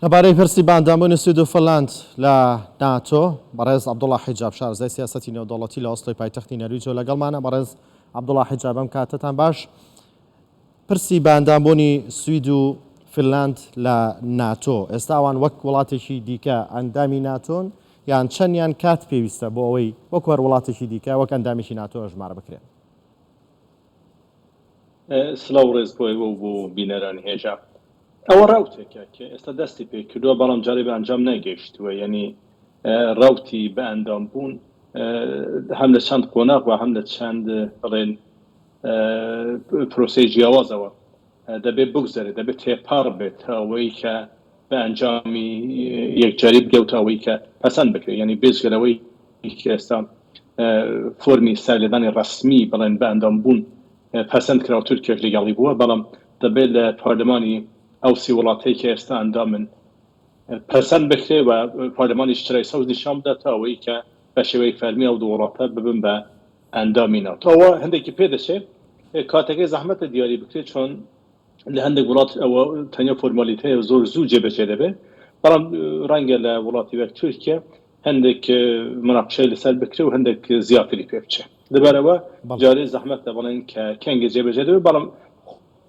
لەبارەی پرسی باندامونی سوید و فنلاند لە ناتۆ، بەڕێز عەبدوڵا حیجاب، شارەزای سیاسەتی نێودەوڵەتی لە ئۆسلۆی پایتەختی نەرویج و لەگەڵمانە. بەڕێز عەبدوڵا حیجاب، ئەم کاتەتان باش. پرسی باندامبوونی سوید و فنلاند لە ناتۆ، ئێستا ئەوان وەک وڵاتێکی دیکە ئەندامی ناتۆن یان چەند یان کات پێویستە بۆ ئەوەی وەکو هەر وڵاتێکی دیکە وەک ئەندامێکی ناتۆ ئەژمار بکرێن؟ سڵاو ڕێز بۆ ئێوە و بۆ بینەرانی هێژا ئەوە ڕەوتێکە کە ئێستا دەستی پێ کردووە بەڵام جارێ بە ئەنجام نەگەیشتووە یعنی ڕەوتی بە ئەندام بوون هەم لە چەند قۆناغ و هەم لە چەند بڵێن پرۆسەی جیاوازەوە دەبێت بگوزەرێت، دەبێت تێپەڕ بێت تا ئەوەی کە بە ئەنجامی یەکجاری بگەو تا ئەوەی کە پەسەند بکرێت، یانی بێجگە لەوەی کە ئێستا فۆرمی ساریلێدانی ڕەسمی بڵێن بە ئەندام بوون پەسەند کرا و تورکیاش لەگەڵی بووە، بەڵام دەبێت لە پارلمانی ئەو سی وڵاتەی کە ئێستا ئەندامن پەسەند بکرێت و پارلمانیش چرای سەوز نیشان بدات تا ئەوەی کە بە شێوەی فەرمی ئەو دوو وڵاتە ببن بە ئەندامی ناتۆ. ئەوە هەندێکی پێ دەچێت کاتەکەی زەحمەتە دیاری بکرێت چۆن لە هەندێک وڵات ئەوە تەنیا فۆرمالیتەیە و زۆر زوو جێبەجێ دەبێت بەڵام ڕەنگە لە وڵاتی وەک تورکیا هەندێک مناقشەی لەسەر بکرێ و هەندێک زیاتری پێ بچێت لەبەرەوە جارێ زەحمەتە بڵێن کە کەنگە جێبەجێ دەبێت بەڵام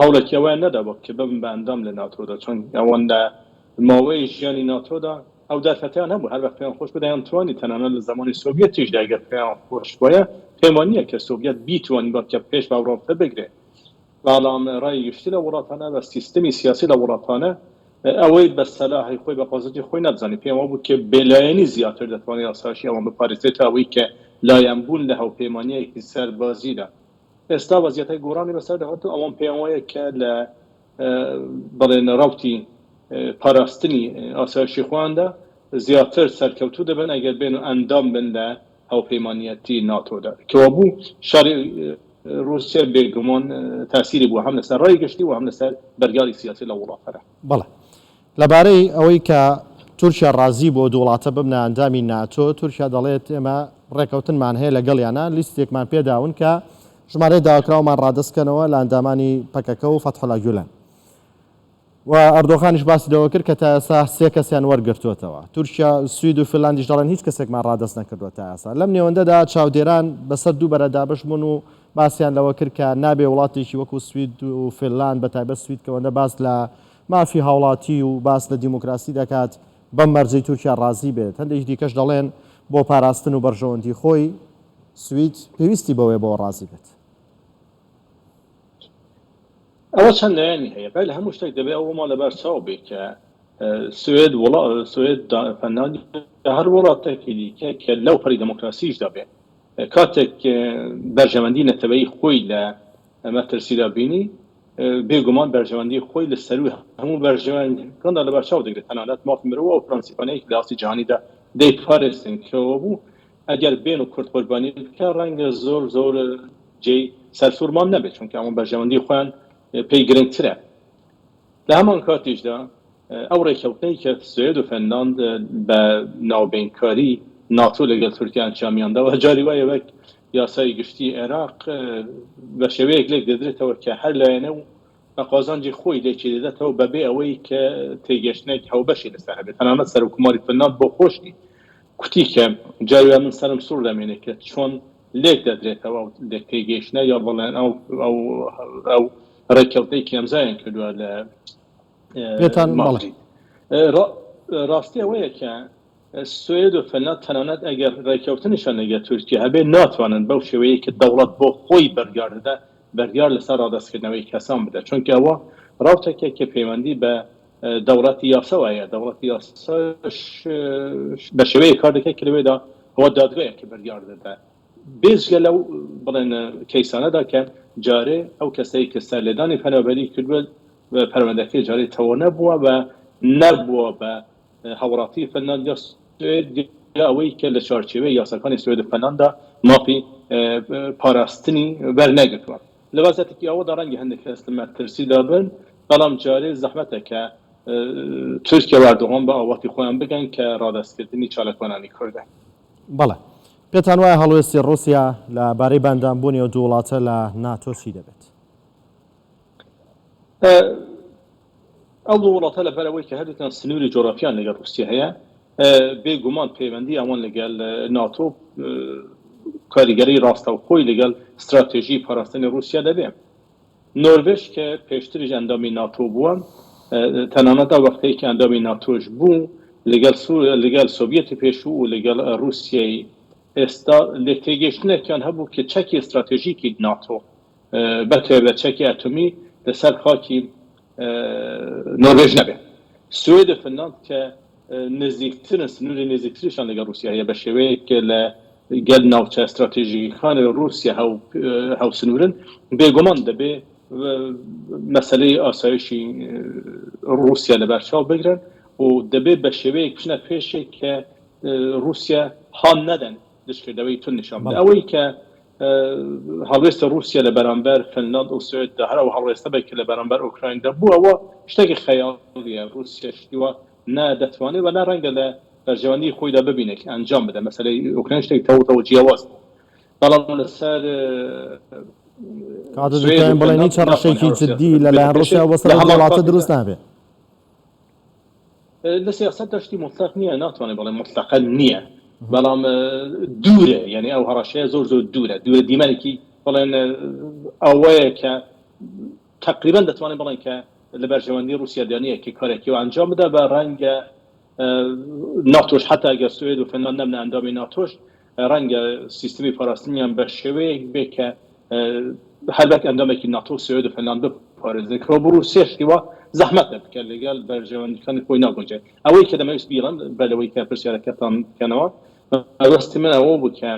هەوڵێکی ئەوەیان نەدابوو کە ببن بە ئەندام لە ناتۆدا، چون ئەوەندە ماوەی ژیانی ناتۆدا ئەو دەرفەتەیان هەبوو، هەر وەخت پێیان خۆش بوو دەیانتوانی، تەنانەت لە زەمانی سۆڤیەتیشدا گەر پێیان خۆش بوایە، پێم وا نییە کە سۆڤیەت بیتوانیبا کە پێش بە ئەوڕۆپە بگرێ، بەڵام ڕای گشتی لە وڵاتانە و سیستمی سیاسی لە وڵاتانە ئەوەی بە سەلاحی خۆی، بە قۆزەتی خۆی نەدزانی، پێیان وا بوو کە بێلایەنی زیاتر دەتوانێ ئاسایشی ئەوان بپارێزێ تا ئەوەی کە لایەنبوون لە هاوپەیمانییەکی سەربازیدا. ئێستا وەزیەتەی گۆڕانی بەسەردا هاتووە، ئەوەم پێیان وایە کە لە بەڵێن ڕەوتی پاراستنی ئاسایشی خۆیاندا زیاتر سەرکەوتوو دەبن ئەگەر بێن و ئەندام بن لە هاوپەیمانیەتی ناتۆدا. کەوابوو شەڕی ڕووسیە بێگومان تاسیری بووە هەم لەسەر ڕای گشتی و هەم لەسەر بەرگاری سیاسی لەو وڵاتەدا. بەڵێ. لەبارەی ئەوەی کە تورکیا ڕازی بووە دوو وڵاتە ببنە ئەندامی ناتۆ، تورکیا دەڵێت ئێمە ڕێککەوتنمان هەیە لەگەڵیانا، لیستێکمان پێ داون کە ژمارەی داواکراومان ڕادەست بکەنەوە لە ئەندامانی پەکەکە و فەتحولا گیولەن. و ئەردۆغانیش باسی لەوە کرد کە تا ئێستا سێ کەسیان وەرگرتووەتەوە. تورکیا، سوید و فنلاندیش دەڵێن هیچ کەسێکمان ڕادەست نەکردووە تا ئێستا. لەم نێوەندەدا چاودێران بەسەر دوو بەرە دابەش بوون و باسیان لەوە کرد کە نابێ وڵاتێکی وەکوو سوید و فنلاند بە تایبەت سوید کە ئەوەندە باس لە مافی هاوڵاتی و باس لە دیموکراسی دەکات بەم مەرجەی تورکیا ڕازی بێت. هەندێکی دیکەش دەڵێن بۆ پاراستن و بەرژەوەندی خۆی سوید پێویستی بەوەیە بەوە ڕازی بێت. ئەوە چەند لایەنی هەیە بەر لە هەموو شتێک دەبێ ئەوەمان لەبەر چاو بێ کە سوید وڵا سوید فنلاند یا هەر وڵاتێکی دیکە کە لەو پەری دێمۆکراسیشدا بێ، کاتێک بەرژەوەندی نەتەوەیی خۆی لە مەترسیدا بینی، بێ گومان بەرژەوەندی خۆی لە سەرووی هەموو بەرژەوەندییەکاندا لە بەرچاو دەگرێت، تەنانەت مافی مرۆ و پرەنسیپانەی کە لە ئاستی جیهانیدا دەیپارێزن کەوە بوو، ئەگەر بێن و کورد قوربانی بکەن، ڕەنگە زۆر زۆر جێی سەرسوڕمان نەبێت، چونکە ئەوان بەرژەوەندی خۆیان پێی گرنگترە. لە هەمان کاتیشدا ئەو ڕێککەوتنەی کە سوێد و فنلاند بە ناوبەینکاری ناتۆ لەگەڵ تورکیا ئەنچامیان داوە جاری وایە وەک یاسای گشتی عێراق بە شێوەیەک لێک دەدرێتەوە کە هەر لایەنە و بە قازانجی خۆی لێکی دەدەتەوە بەبێ ئەوەی کە تێگەشتنێک هاوبەشی لەسەر هەبێت تەنانەت سەرۆککۆماری فنلاند بۆ خۆشی کوتی کە جاری وایە من سەرم سوڕ دەمێنێت کە چۆن لێک دەدرێتەوە ئەو لێک تێگەیشتنە یا بەڵێن ئەو ئەو ئەو ڕێککەوتنی کێمزایان کردووە لە پێتان ماڵی ڕاستی ئەوەیە کە سوێد و فەنات تەنانەت ئەگەر ڕێککەوتنیشان لەگە تورکیا هەبێت ناتوانن بەو شێوەیە کە دەوڵەت بۆ خۆی بەرگار دەدا بەرگار لەسەر ڕادستکردنەوەی کەسان بدە چونکە ئەوە ڕاوتەکە کە پەیوەندی بە دەوڵەتی یاسەوەیە دەوڵەتی یاسا بە شێوەیە کار دەکە کە لەوێدا ئەوە دادگایە کە بەرگار دەدا بێجگە لەو بڵێن کەیسانەدا کە جارێ ئەو کەسەی کە سەرلێدانی پەنابەری کردووە پەروەندەکەی جارێ تەواو نەبووە و نەبووە بە هاوڵاتی فنلاند یا سوێد یا ئەوەی کە لە چوارچێوەی یاساکانی سوێد و فنلاندا مافی پاراستنی وەرنەگرتووە. لە وەزعێکی ئاوادا ڕەنگە هەندێک کەس لە مەترسیدا بن، بەڵام جارێ زەحمەتە کە تورکیا و ئەردۆغان بە ئاواتی خۆیان بگەن کە ڕادەستکردنی چالاکوانانی کوردە. بەڵێ. پێتان وایە هەڵوێستی ڕووسیا لە بارەی باندانبوونی ئەو دوو وڵاتە لە ناتۆ چی دەبێت؟ ئەو دوو وڵاتە لە بەر ئەوەی کە هەردووکیان سنووری جۆغرافییان لەگەڵ ڕووسیا هەیە، بێ گومان پەیوەندی ئەوان لەگەڵ ناتۆ کاریگەری ڕاستەوخۆی لەگەڵ ستراتێژی پاراستنی ڕووسیا دەبێت. نۆروێژ کە پێشتریش ئەندامی ناتۆ بووە، تەنانەت ئەو وەختەی کە ئەندامی ناتۆش بوو، لەگەڵ سۆڤیەتی پێشوو و لەگەڵ ڕووسیای ئێستا لێکتێگەیشتنێکیان هەبوو کە چەکی ستراتێژیکی ناتۆ، بەتایبەت چەکی ئەتۆمی لەسەر خاکی نۆروێژ نەبێت سوێد و فنلاند کە نزیکترن سنوری نزیکتریشان لەگەڵ روسیا هەیە بەشێوەیەک کە لە گەل ناوچە ستراتیژیکان روسیا هاوسنورن بێگومان دەبێ مەسەلەی ئاسایشی روسیا لە بەرچاو بگرن و دەبێ بەشێوەیەک بچنە پێشێ کە روسیا هان نەدەن دژکردەوەی توند نیشان بدەن. ئەوەی کە هەڵوێستی ڕووسیە لە بەرامبەر فنلاند و سوێددا هەر ئەو هەڵوێستە بێت کە لە بەرامبەر ئۆکرایندا بووە، ئەوە شتێکی خەیاڵییە. ڕووسیە شتی وا نا دەتوانێت و نا ڕەنگە لە بەرژەوەندیی خۆیدا ببینێت کە ئەنجام بدات. مەسەلەی ئۆکراین شتێکی تەواو تەواو جیاواز بوو. بەڵام لەسەر سوێد و فنلاند ناتوانێت هەر ڕووسیە بێت لە پێشێ. لە هەمان کاتیشدا. لە سیاسەتدا شتی موتلەق نییە، ناتوانێت بڵێ موتلەقە نییە، بەڵام دوورە، یانی ئەو هەڕەشەیە زۆر زۆر دوورە، دوورە دیمەنێکی بڵێن ئەوەیە کە تەقریبەن دەتوانین بڵێن کە لە بەرژەوەندی ڕووسیادا نییە کە کارێکی وا ئەنجام بدا، بە ڕەنگە ناتۆش حەتا گەر سوێد و فنلاند نەبنە ئەندامی ناتۆش، ڕەنگە سیستمی پاراستنیان بە شێوەیەک بێ کە هەربەت ئەندامێکی ناتۆ سوێد و فەلاند بپارێزێک ڕۆبڕوو سێ شتیوە زەحمەتە بکە لەگەل بەرژەوەندیەکانی خۆی ناگونجێت ئەوەی کە دەمەویست بیڵم بە لەوەی کە پرسیارەکەتان بکەنەوە ئەوەستی من ئەوە بوو کە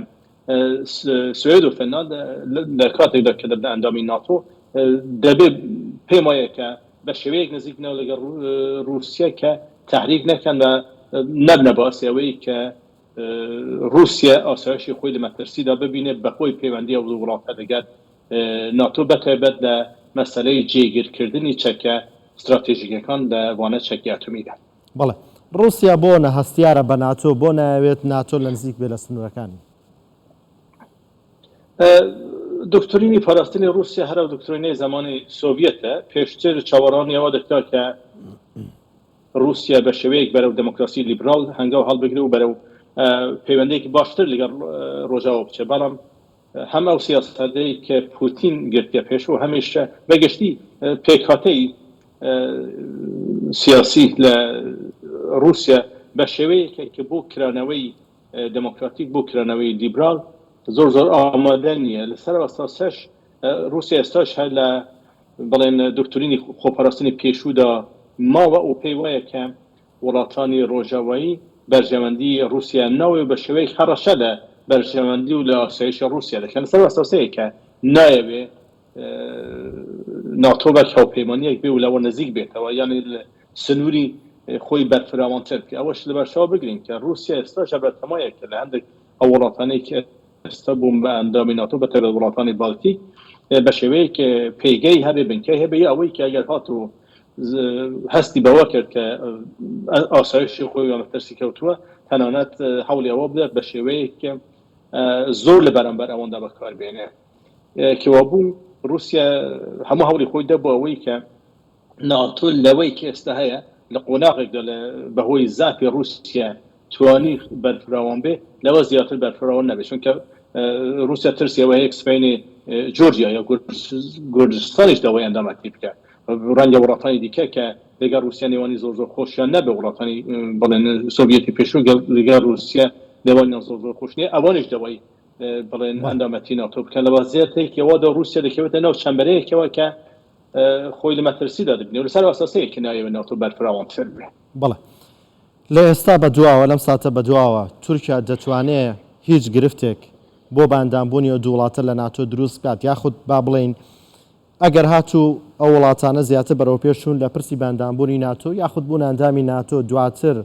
سوێد و فەلاند لە کاتێکدا کە دەبنە ئەندامی ناتۆ دەبێ پێم وایە کە بە شێوەیەک نزیک بنەوە لەگەڵ رووسیا کە تحریک نەکەن بە نەبنە باسیەوەی کە ڕووسیا ئاسایشی خۆی لە مەترسیدا ببینێت بەهۆی پەیوەندی ئەو دوو وڵاتە لەگەل ناتۆ بەتایبەت لە مەسەلەی جێگیرکردنی چەکە ستراتێژیکەکان لە وانە چەکی ئەتۆمیدا. بەڵێ ڕووسیا بۆ نە هەستیارە بە ناتۆ؟ بۆ نایەوێت ناتۆ لە نزیک بێت لە سنوورەکانی؟ دۆکترینی پاراستنی ڕووسیا هەر ئەو دۆکترینەی زەمانی سۆڤیەتە، پێشتر چاوەڕوانی ئەوە دەکرا کە، ڕووسیا بە شێوەیەک بەرەو دێمۆکراسی لیبرال هەنگاو هەڵبگرێ و بەرەو پەیوەندییەکی باشتر لەگەڵ ڕۆژاوا بچێ، بەڵام هەم ئەو سیاسەتەی کە پووتین گرتیە پێش و هەمیش بە گشتی پێکهاتەی سیاسی لە ڕووسیا بە شێوەیەکە کە بۆ کرانەوەی دێمۆکراتیک، بۆ کرانەوەی لیبرال زۆر زۆر ئامادە نییە. لە سەرەوە تا سەرش ڕووسیا ئێستاش هەر لە بەڵێن دۆکترینی خۆپاراستنی پێشوودا ماوە و پێی وایە کە وڵاتانی ڕۆژاوایی بەرژەوەندی ڕووسیایان ناوێ و بە شێوەیەک هەڕەشە لە بەرژەوەندی و لە ئاسایشی ڕووسیا دەکەن لەسەر ئەو ئەساسەی کە نایەوێ ناتۆ وەک هاوپەیمانییەک بێ و لەوە نزیک بێتەوە یان سنووری خۆی بەرفراوانتر بکە ئەوەش لەبەرچاو بگرین کە ڕووسیا ئێستاش بەتەمایە کە لە هەندێک ئەو وڵاتانەی کە هەستە بووم بە ئەندامی ناتۆ بە تایبەت وڵاتانی باڵتیک بە شێوەیەک پێگەی هەبێ بنکەی هەبێ یا ئەوەی کە ئەگەر هات و هەستی بەوە کرد کە ئاسایشی خۆی لە مەترسی کەوتووە تەنانەت هەوڵی ئەوە بدات بە شێوەیەک کە زۆر لە بەرامبەر ئەوەندا بەکاربێنێ کەوابوو رووسیا هەموو هەوڵی خۆی دەبوو ئەوەی کە ناتۆ لەوەی کە ئێستا هەیە لە قۆناغێکدا لە بەهۆی زافی ڕووسیا توانی بەرفراوان بێ لەوە زیاتر بەرفراوان نەبێ چونکە ڕووسیا ترسی ئەوە هەیە کە سبەینێ جۆرجیا یا گورجستانیش داوای ئەندامەتی بکە ڕەنگە وڵاتانی دیکە کە لەگەڵ ڕووسیا نێوانی زۆر زۆر خۆشیان نەبێ وڵاتانی بڵێن سۆڤیەتی پێشوو لەگەڵ ڕووسیا نێوانیان زۆر زۆر خۆش نیە ئەوانیش داوای بڵێن ئەندامەتی ناتۆ بکەن لەوە زیاتێکەوەدا ڕووسیا دەکەوێتە ناو چەمبەرەیەکەوە کە خۆی لە مەترسیدا دەبینێ و لەسەر ئاساسەیە کە نایەوێ ناتۆ بەرفراوانتر بێ. بەڵێ. لە ئێستا بە دواوە، لەم ساتە بە دواوە، تورکیا دەتوانێ هیچ گرفتێک بۆ بە ئەندامبوونی ئەو دوو وڵاتە لە ناتۆ دروست بکات، یاخود با بڵێین ئەگەر هاتوو ئەو وڵاتانە زیاتر بەرەوپێش چوون لە پرسی بە ئەندامبوونی ناتۆ یاخود بوونە ئەندامی ناتۆ، دواتر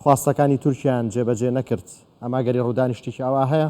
خواستەکانی تورکیایان جێبەجێ نەکرد، ئەمە ئەگەری ڕوودانی شتێکی ئاوا هەیە؟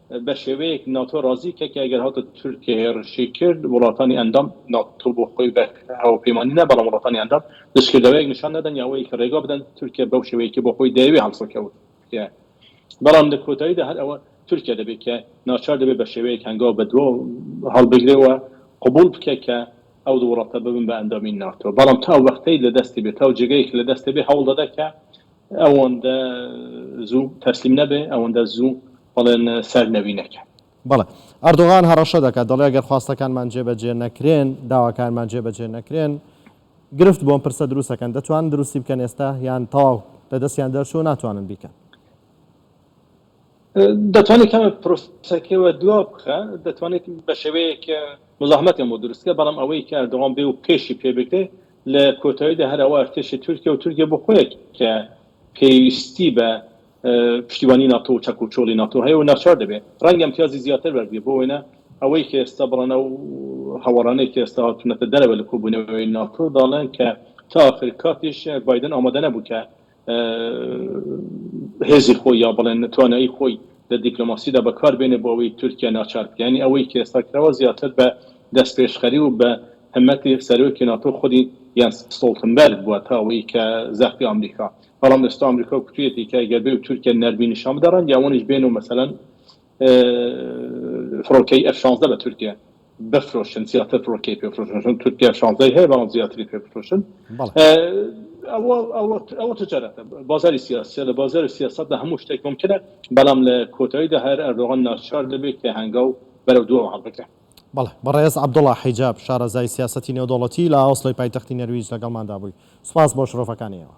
بە شێوەیەک ناتۆ ڕازی کرد کە ئەگەر هاتە تورکیا هێڕشی کرد وڵاتانی ئەندام، ناتۆ بۆ خۆی بە هاوپەیمانی نا بەڵام وڵاتانی ئەندام، دژکردەوەیەک نیشان نەدەن یا ئەوەیە کە ڕێگا بدەن تورکیا بەو شێوەیەی کە بۆ خۆی دەیەوێ هەڵسوکەوت بکات. بەڵام لە کۆتاییدا هەر ئەوە تورکیا دەبێ کە ناچار دەبێ بە شێوەیەک هەنگاو بە دوا هەڵبگرێ و قبووڵ بکا کە ئەو دوو وڵاتە ببن بە ئەندامی ناتۆ. بەڵام تا ئەو وەختەی لە دەستی بێ، تا ئەو جێگەی کە لە دەست دەبێ هەوڵ دەدا کە ئەوەندە زوو تەسلیم نەبێ، ئەوەندە زوو. بەڵێن سەر نەوینەکە. بەڵێ. ئەردۆغان هەڕەشە دەکات، دەڵێ گەر خواستەکانمان جێبەجێ نەکرێن، داواکانمان جێبەجێ نەکرێن، گرفت بۆ ئەم پرسە دروست دەکەن. دەتوانن دروستی بکەن ئێستا یان تەواو لە دەستیان دەرچووە ناتوانن بیکەن؟ دەتوانێت کەمێک پرۆسەکەی وە دوا بخا، دەتوانێت بە شێوەیەک مزاحمەتیان بۆ دروست بکا، بەڵام ئەوەی کە ئەردۆغان بێ و پێشی پێ بگرێ، لە کۆتاییدا هەر ئەوە ئەرتێشی تورکیە و تورکیە بۆ خۆیە کە پێویستی بە پشتیوانی ناتۆ و چەک و چۆڵی ناتۆ هەیە و ناچار دەبێت ڕەنگە ئیمتیازی زیاتر وەرگرێت، بۆ وێنە ئەوەی کە ئێستا بڕەنە و هەوەڕانەی کە ئێستا هاتوونەتە دەرەوە لە کۆبوونەوەی ناتۆ دەڵێن کە تا ئاخر کاتیش بایدن ئامادە نەبوو کە هێزی خۆی یا بڵێن توانایی خۆی لە دیپلۆماسیدا بەکار بێنێ بۆ ئەوەی تورکیا ناچار بکە یعنی ئەوەی کە ئێستا کراوە زیاتر بە دەستپێشخەری و بە همەتی سەرۆکی ناتۆ خودی یان ستۆڵتنبەرگ بووە تا ئەوەی کە زەختی ئامریکا بەڵام ئێستا ئەمریکا کوتویەتی کە گەر بێ و تورکیا نەرمی نیشان بدەڕێن یاوەنیش بێن و مەسەلەن فڕۆکەی ئەف شانزدە بە تورکیا بفرۆشن زیاتر فڕۆکەی پێ بفرۆشن چون تورکیا شانزدەی هەیە بەڵام زیاتری پێ بفرۆشن ئەوە ئەوە ئەوە تجارەتە بازاری سیاسیە لە بازاری سیاستدا هەموو شتێک ممکنە بەڵام لە کۆتاییدا هەر ئەردۆغان ناچار دەبێت کە هەنگاو بەرەو دووەم هەڵبگرێت بەڵێ بەڕێز عەبدوڵا حیجاب شارەزای سیاسەتی نێودەوڵەتی لە ئۆسلۆی پایتەختی نەرویج لەگەڵماندا بووی سوپاس بۆ شرۆڤەکانی ئێوە